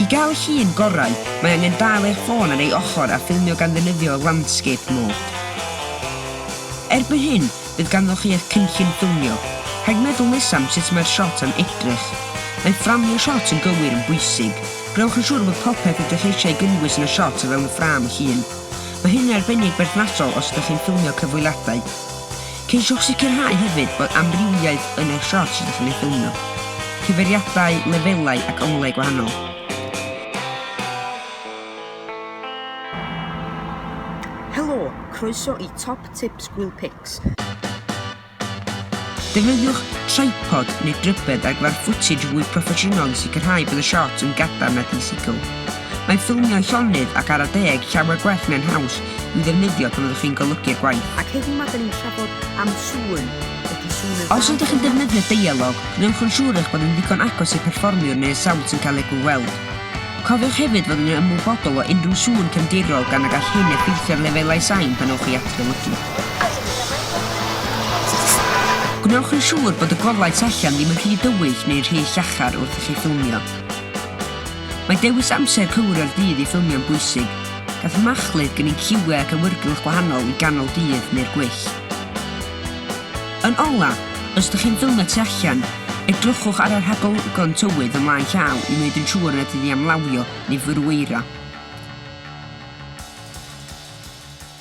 I gael llun gorau, mae angen dal eich ffôn ar ei ochr a ffilmio gan ddefnyddio Landscape Mode. Erbyn hyn, bydd ganddoch chi eich cynllun ffilmio. Rhaid meddwl nesaf am sut mae'r siot am edrych. Mae fframio siot yn gywir yn bwysig. Gwnewch yn siŵr bod popeth ydych eisiau ei gynnwys yn y siot o fewn y ffrâm llun. Mae hyn yn arbennig berthnasol os ydych chi'n ffilmio cyfweliadau. Ceisiwch sicrhau hefyd bod amrywiaeth yn eich siorts ydych yn ei ffilmio, cyfeiriadau, lefelau ac onglau gwahanol. Helo! Croeso i Top Tips Gwyl Pics. Defnyddiwch tripod neu drybedd ar gyfer fwtij fwy proffesiynol i sicrhau bod y siorts yn gadarn ac yn sicl. Mae ffilmiau llonydd ac ar y deg llawer gwell neu'n haws i'w ddefnyddio pan fyddwch chi'n golygu'r gwaith. Ac heddiw 'ma 'da ni'n trafod am sŵn. Ydy sŵn yn... Os ydych chi'n defnyddio deialog, gwnewch yn siŵr eich bod yn ddigon agos i'r perfformiwr neu y sawnd sy'n cael ei gyfweld. Cofiwch hefyd fod yn ymwybodol o unrhyw sŵn cefndirol gan y gall hyn effeithio ar lefelau sain pan ewch i adrolygu. Gwnewch yn siŵr bod y golau tu allan ddim yn rhy dywyll neu rhy llachar wrth i chi ffilmio. Mae dewis amser cywir o'r dydd i ffilmio'n bwysig. Gall machlud gynnig ciwiau ac awyrgylch gwahanol i ganol dydd neu'r gwyllt. Yn ola', os ydych chi'n ffilmio tu allan, edrychwch ar y rhagolygon tywydd ym mlaen llaw i wneud yn siŵr nad ydy am lawio neu fyrwyro.